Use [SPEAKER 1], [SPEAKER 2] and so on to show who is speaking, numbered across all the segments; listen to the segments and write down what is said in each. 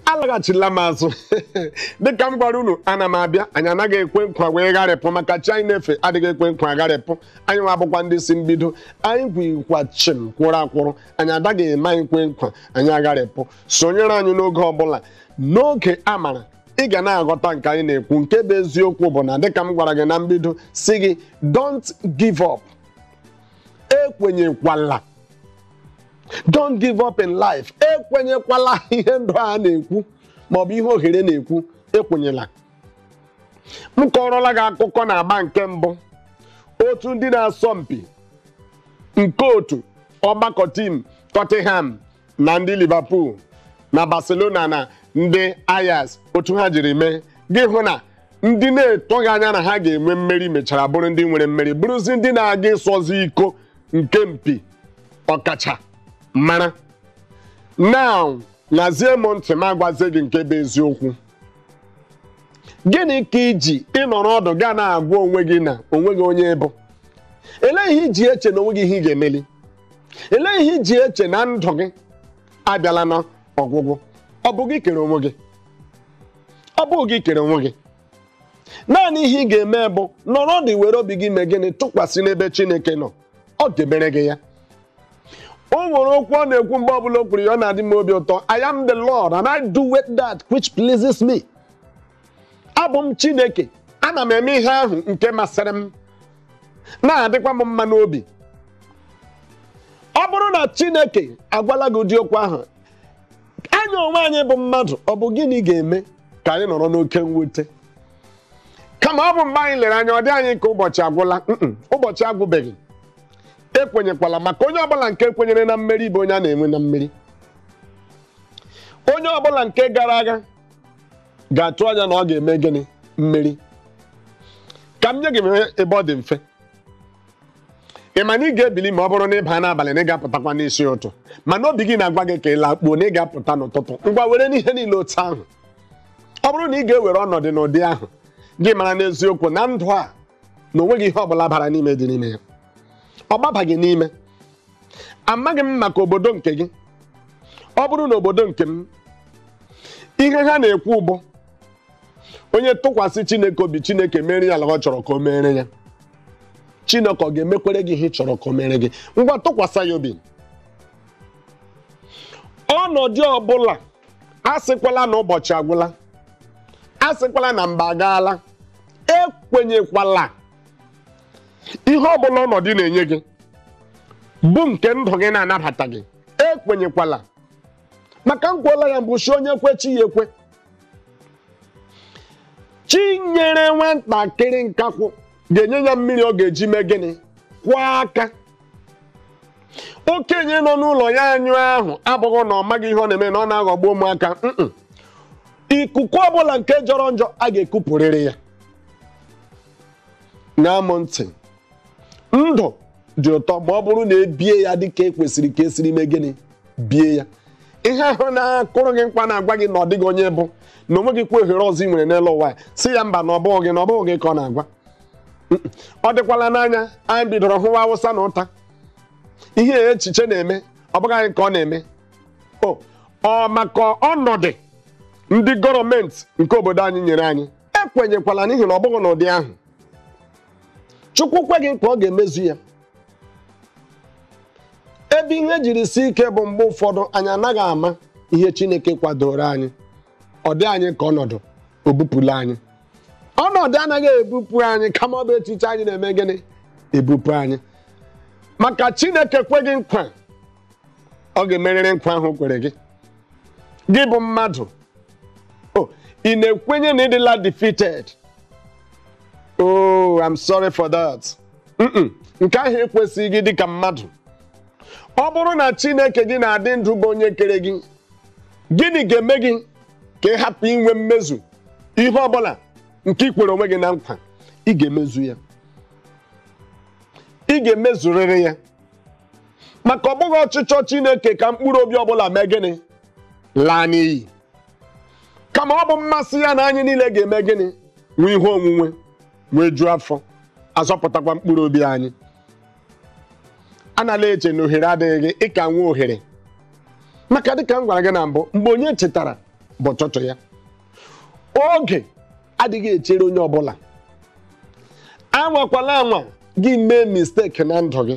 [SPEAKER 1] alaghachila m azụ dịka m gwara unu ana m abịa anyị anaghị ekwe nkwa wee gharịpụ maka chi anyị na-efe adịghị ekwe nkwa gharịpụ anyị nwa bụkwa ndị si mbido anyị kwụkwa chịm kwụrụ akwụrụ anyị adaghị eme anyị kwe nkwa anyị agharịpụ sonyere anyị n'oge ọbụla n'oge a mara ị ga na-aghọta nke anyị na-ekwu nke bụ eziokwu bụ na dịka m gwara gị na mbido sị gị don't give up ekwenyekwala don't give up in life ekwenyekwala ihe ndụ a na-ekwu maọbụ ihe ohere na-ekwu ekwenyela m kọrọla gị akụkọ na agba nke mbụ otu ndị na-asọ mpi nke otu ọgbakọ team Tottenham na ndị Liverpool na Barcelona na ndị Ajax otu ha jiri mee gị hụ na ndị na-atụghị anya na ha ga-enwe mmeri mechara bụrụ ndị nwere mmeri bụrụzi ndị na-aga ịsọzi iko nke mpi ọkacha mara now ṅazie m ntị m agwazie gị nke bụ eziokwu gịnị ka i ji nọrọ ọdụ ga na-agwa onwe gị na onweghị onye ị bụ elee ihe i ji eche na onweghị ihe ị ga-emeli elee ihe i ji eche na ndụ gị abịala na ọgwụgwụ ọ bụ gị kere onwe gị ọ bụ gị kere onwe gị naanị ihe ị ga-eme bụ nọrọ ọdụ were obi gị mee gịnị tụkwasị n'ebe Chineke nọ ọ ga-emere gị ya o nwere okwu ọ na-ekwu mgbe ọbụla o kwuru ya ọ na-adị m obi ụtọ I am the Lord and I do with that which pleases me. abụ m Chineke ana m eme ihe ahụ nke masịrị m na-adịkwa m mma n'obi ọ bụrụ na Chineke agwala gị ụdị okwu ahụ anyị onwe anyị bụ mmadụ ọ bụ gịnị ga-eme ka anyị nọrọ n'oke mwute kama ọ bụ mgbe anyị lere anya ọ dị anyị ka ụbọchị agwụla ụbọchị agwụbeghị ekwenyekwala maka onye ọbụla nke kwenyere na mmeri bụ onye a na-enwe na mmeri onye ọbụla nke gara agha ga-atụ anya na ọ ga-eme gịnị mmeri ka m nye gị ebe ọ dị mfe ị ma na ị ga-ebili ma ọ bụrụ na ị baa n'abalị na ị ga-apụtakwa n'isi ụtụtụ mana obi gị na-agwa gị ka ị lakpuo na ị ga-apụta n'ụtụtụ ngwa werenụ ihe niile otu ahụ ọ bụrụ na ị ga-ewere ọnọdụ n'ụdị ahụ gị mara n'eziokwu na ndụ a na onweghị ihe ọ bụla bara n'ime dị n'ime ya ọ gbabaghị n'ime amaghị m maka obodo nke gị ọ bụrụ na obodo nke m ihe ha na-ekwu bụ onye tụkwasị chineke obi chineke mere ya ala ọ chọrọ ka o mere ya chineke ọ ga-emekwere gị ihe ị chọrọ ka o mere gị ngwa tụkwasị ya obi ọnọdụ ọbụla asịkwala na ụbọchị agwụla asịkwala na mgbe agaala ekwenyekwala ihe ọ bụla ọnọdụ na-enye gị bụ nke ndụ gị na-anabataghị ekwenyekwala maka m kwuola ya mbụ sị onye kwe chi ya ekwe chi nyere nwatakịrị nkakwụ ga-enye ya mmiri ọ ga-eji mee gịnị kwọọ aka okenye nọ n'ụlọ ya anyụ ahụ abụghị na ọ maghị ihe ọ na-eme na ọ na-aghọgbu ụmụaka mm-mm. ikuku ọbụla nke jọrọ njọ a ga-ekupụrịrị ya ṅaa m ntị ndụ dị ụtọ ma ọ bụrụ na ebie ya dị ka ekwesịrị ka esiri mee gịnị bie ya ihe ahụ na-akụrụ gị nkwa na-agwa gị na ọ dịghị onye ị bụ na o nweghịkwa ohere ọzọ ị nwere n'elu ụwa sị ya mba na ọ bụghị gị na ọ bụghị gị ka ọ na-agwa ọ dịkwalanụ anya anyị bidoro hụwa awụsa na ụta ihe echiche na-eme ọ bụghị anyị ka ọ na-eme o ọ maka ọnọdụ ndị gọọmenti nke obodo anyị nyere anyị ekwenyekwala n'ihi na ọ bụghị n'ụdị ahụ chukwu kwe gị nkwa ọ ga-emezu ya ebe ihe jiri sie ike bụ mgbe ụfọdụ anyị anaghị ama ihe chineke kwadoro anyị ọ dị anyị ka ọnọdụ o bupụla anyị ọnọdụ anaghị ebupụ anyị kama ọ bụ echiche anyị na-eme gịnị ebupụ anyị maka chineke kwe gị nkwa ọ ga-emerịrị nkwa ahụ o kwere gị gị bụ mmadụ o ị na-ekwenye na ị dịla defeated oh i'm sorry for that Mm-mm. nke ahụ ekwesịghị gị dịka mmadụ ọ bụrụ na chineke gị na-adị ndụ bụ onye kere gị gịnị ga-eme gị ka ị hapụ inwe mmezu ihe ọbụla nke ị kwere onwe gị na nkwa ị ga-emezu ya ị ga-emezurịrị ya maka ọ bụghị ọchịchọ Chineke ka mkpụrụ obi ọbụla mee gịnị laa n'iyi kama ọ bụ mmasị ya na anyị niile ga-eme gịnị nwee ihe onwunwe nwejuo afọ a zọpụtakwa mkpụrụ obi anyị anala eche na ohere adịghị gị ị ka nwee ohere maka dịka m gwara gị na mbụ mgbe onye tetara bụ ụtụtụ ya oge adịghị echere onye ọbụla anwakwala anwa gị mee mistake na ndụ gị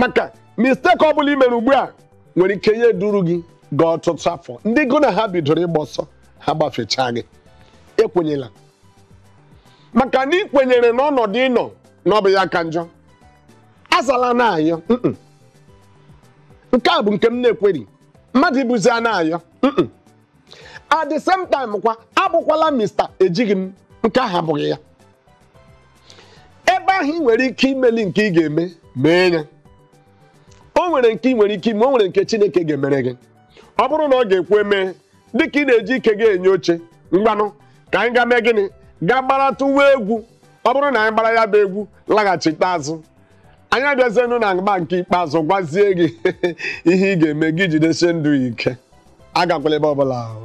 [SPEAKER 1] maka mistake ọ bụla i mere ugbu a nwere ike ya eduru gị gaa ọtụtụ afọ ndị gụ na ha bidoro ịgba ọsọ ha gbafechaa gị ekwenyela maka na ị kwenyere n'ọnọdụ ị nọ na ọ bụ ya ka njọ azala a na-ayọ mm-mm. nke a bụ nke m na-ekweri mmadụ ịbụzi a na-ayọ mm-mm. at the same time kwa abụkwala mista ejighị m nke ahụ abụghị ya ebe ahụ ị nwere ike imeli nke ị ga-eme mee ya o nwere nke ị nwere ike ime o nwere nke Chineke ga-emere gị ọ bụrụ na ọ ga-ekwe mee dịka ị na-eji ike gị enye oche ngwanụ ka anyị ga mee gịnị ga gbaratụwa egwu ọ bụrụ na anyị gbara ya bụ egwu laghachite azụ anyị abịazienụ n'agba nke ikpeazụ gwazie gị ihe ị ga-eme gị jidesie ndụ ike agakwala ebe ọbụla ahụ